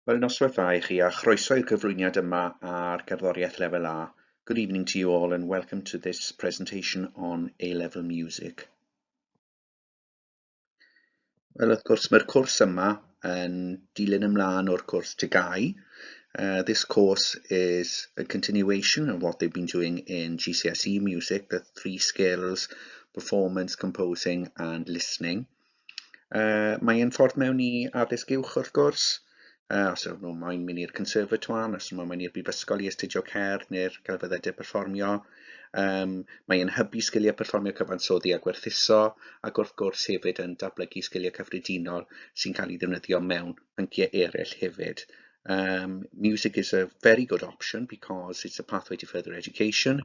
Wel, noswaith dda i chi a chroeso i'r cyflwyniad yma ar gerddoriaeth lefel A. Good evening to you all and welcome to this presentation on A-level music. Wel, wrth gwrs, mae'r cwrs yma yn dilyn ymlaen o'r cwrs TGAU. Uh, this course is a continuation of what they've been doing in GCSE music, the three skills, performance, composing and listening. Uh, mae e'n ffordd mewn i addysg uwch wrth gwrs, uh, os ydw nhw'n moyn mynd i'r conservatoire, os ydw nhw'n mynd i'r brifysgol i astudio cerdd neu'r celfyddydau perfformio. Um, mae e'n hybu sgiliau perfformio cyfansoddi a gwerthuso, ac wrth gwrs hefyd yn datblygu sgiliau cyffredinol sy'n cael ei ddefnyddio mewn pynciau eraill hefyd. Um, music is a very good option because it's a pathway to further education.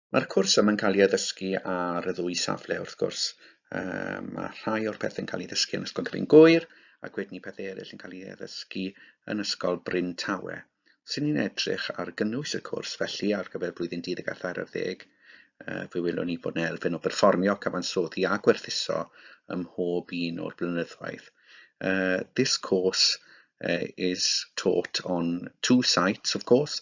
Mae'r cwrs yma'n cael ei addysgu ar y ddwy safle wrth gwrs. Um, mae rhai o'r pethau'n cael ei ddysgu yn Ysgol Gryn Gwyr ac wedyn i pethau eraill yn cael ei addysgu yn Ysgol Bryn Tawe. Sy'n ni'n edrych ar gynnwys y cwrs felly ar gyfer blwyddyn 10 a thair ar ddeg, uh, fe welwn ni bod yna elfen o berfformio, cyfansoddi a gwerthuso ym mhob un o'r blynyddoedd. Uh, this course uh, is taught on two sites, of course,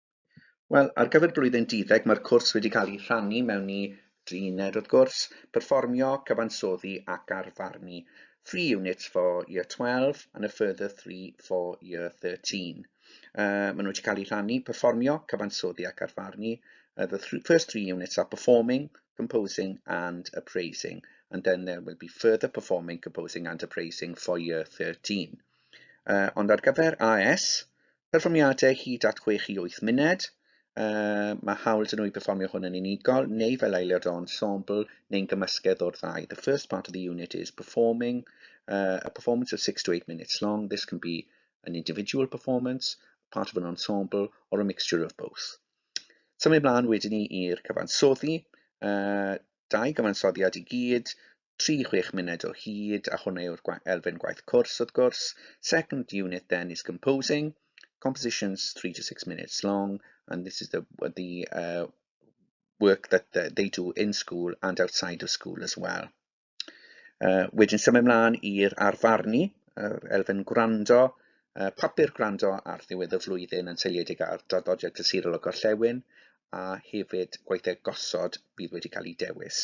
Wel, ar gyfer blwyddyn duddeg mae'r cwrs wedi cael ei rhannu mewn i dri uned wrth gwrs, perfformio, cyfansoddi ac arfarnu. Three units for year 12 and a further three for year 13. Uh, maen nhw wedi cael eu rhannu, perfformio, cyfansoddi ac arfarnu. Uh, the th first three units are performing, composing and appraising, and then there will be further performing, composing and appraising for year 13. Uh, ond ar gyfer AS, Perfformiadau hyd at chwech i wyth munud, Uh, mae hawl dyn nhw i performio hwn yn unigol neu fel aelod o ensemble neu'n gymysgedd o'r ddau. The first part of the unit is performing uh, a performance of 6 to 8 minutes long. This can be an individual performance, part of an ensemble or a mixture of both. Symud mlaen wedyn ni i'r cyfansoddi. Uh, dau gyfansoddiad i gyd, tri chwech munud o hyd, a hwnna yw'r elfen gwaith cwrs wrth gwrs. Second unit then is composing, compositions three to six minutes long, and this is the, the uh, work that they do in school and outside of school as well. Uh, wedyn symud ymlaen i'r arfarnu, uh, elfen gwrando, uh, papur gwrando ar ddiwedd y flwyddyn yn seiliedig ar draddodiad cysurol o gorllewin, a hefyd gweithiau gosod bydd wedi cael ei dewis.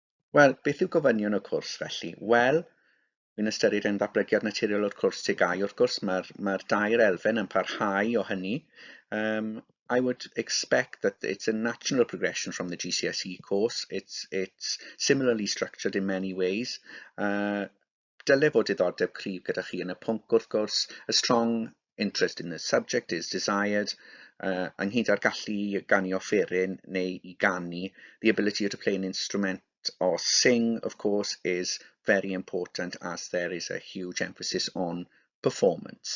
Wel, beth yw gofynion y cwrs felly? Wel, Yn ystyried ein ddatblygiad naturiol o'r cwrs TGAU, wrth gwrs, mae'r mae dair elfen yn parhau o hynny. Um, I would expect that it's a natural progression from the GCSE course. It's, it's similarly structured in many ways. Uh, dyle fod diddordeb cryf gyda chi yn y pwnc wrth gwrs, a strong interest in the subject is desired, uh, ynghyd â'r gallu i ganu offeryn neu i ganu, the ability to play an instrument or sing, of course, is very important as there is a huge emphasis on performance.